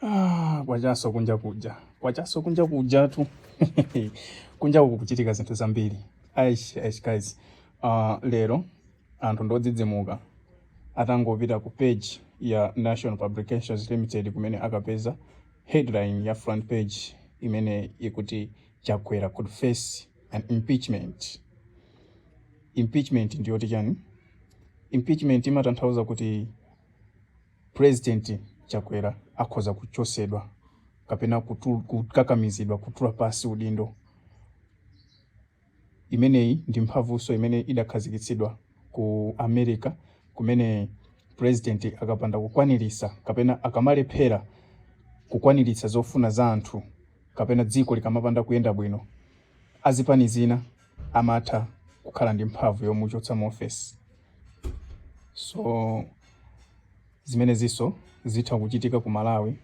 Ah, kwachanso kunja kuja kwachanso kunja kujatu kunja uku kuchitika zinthu zambiri aish aish guys uh, lero anthu ndi odzidzimuka atangopita ku page ya Nation Publications limited kumene akapeza headline ya front page imene ikuti chakwera could face an impeachment impeachment ndiyoti chani impeachment imatanthauza kuti President Chakwera akhoza kuchotsedwa kapena kutul, kukakamizidwa kutula pansi udindo. Imeneyi ndi mphamvunso imene idakhazikitsidwa ku America kumene president akapanda kukwanirisa kapena akamalephera kukwaniritsa zofuna za anthu kapena dziko likamapanda kuyenda bwino azipani zina amatha kukhala ndi mphamvu yomuchotsa mu ofesi. so zimenezinso zitha kuchitika ku malawi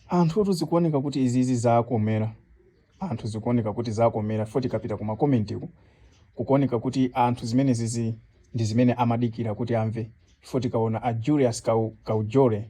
anthutu zikuoneka kuti izizi zakomera anthu zikuoneka kuti zakomera ife tikapita ku makomentiku kukuoneka kuti anthu zimenezizi ndi zimene amadikira kuti amve ife tikaona a julius Kau- kaujore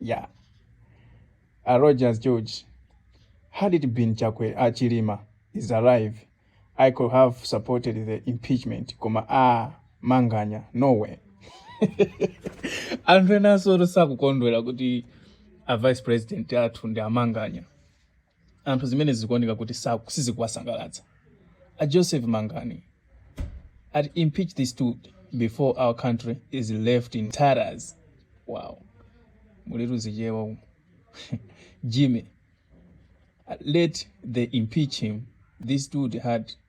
Yeah. Uh, Rogers George, had it been Chakwe uh, Chilima is alive, I could have supported the impeachment. Koma ah, manganya, no way. anthu enansotu sakukondwera kuti a vice president athu ndi amanganya anthu zimenezi zikuoneka kuti saku- sizikuwasangalatsa a joseph mangani ati impeach this dude before our country is left in tatters wow mulitu zizungu umu jimmy let them impeach him this dude had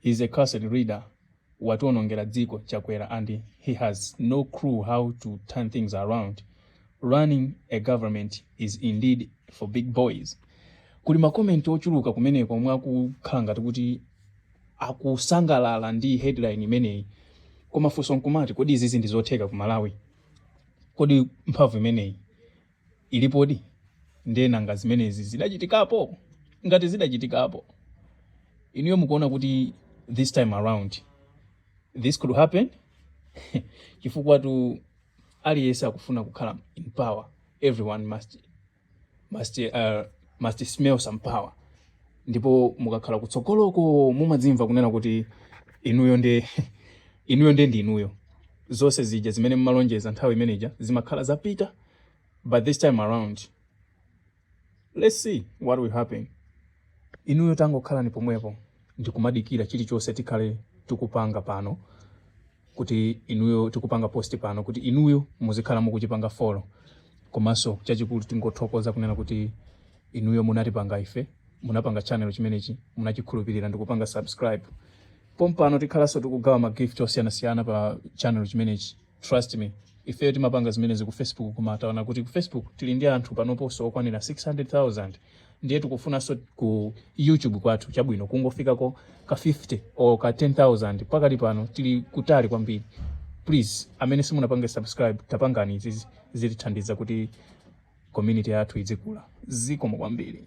He is a cursed leader wationongera dziko Chakwera and he has no clue how to turn things around. Running a government is indeed for big boys. Kuli ma comment ochuluka kumeneko omwe akukhala ngati kuti akusangalala ndi headline imeneyi. Koma funso nkumati kodi izizi ndi zotheka ku Malawi? Kodi mphamvu imeneyi ilipodi ndiye nanga zimenezi zidachitikapo ngati zidachitikapo inuyo mukuona kuti this time around this could happen chifukwatu aliyense akufuna kukhala in power everyone must must uh, must smell some power ndipo mukakhala kutsogoloko mumadzimva kunena kuti inuyo ndi inuyo zonse zija zimene mumalonjeza nthawi imeneja zimakhala zapita but this time around let's see what will happen inuyo tangokhalani pomwepo ndikumadikira chilichonse tikhale tikupanga pano kuti inuyo tikupanga post pano kuti inuyo muzikhala mukuchipanga follow komanso chachikulu tingothokoza kunena kuti Inuyo munatipanga ife, munapanga channel chimenechi, munachikhulupirira ndikupanga subscribe. Pompano tikhalanso tikugawa ma gift osiyanasiyana pa channel chimenechi. Trust me, ifeyo timapanga zimenezi ku Facebook koma taona kuti ku Facebook tili ndi anthu panoponso okwanira 600,000 ndiye tikufunanso ku YouTube kwathu chabwino kungofikako ka 50 or ka 10,000 pakali pano tili kutali kwambiri. Please, amene simunapange subscribe tapangani izizi. zitithandiza kuti community yathu idzikula. Zikomo kwambiri.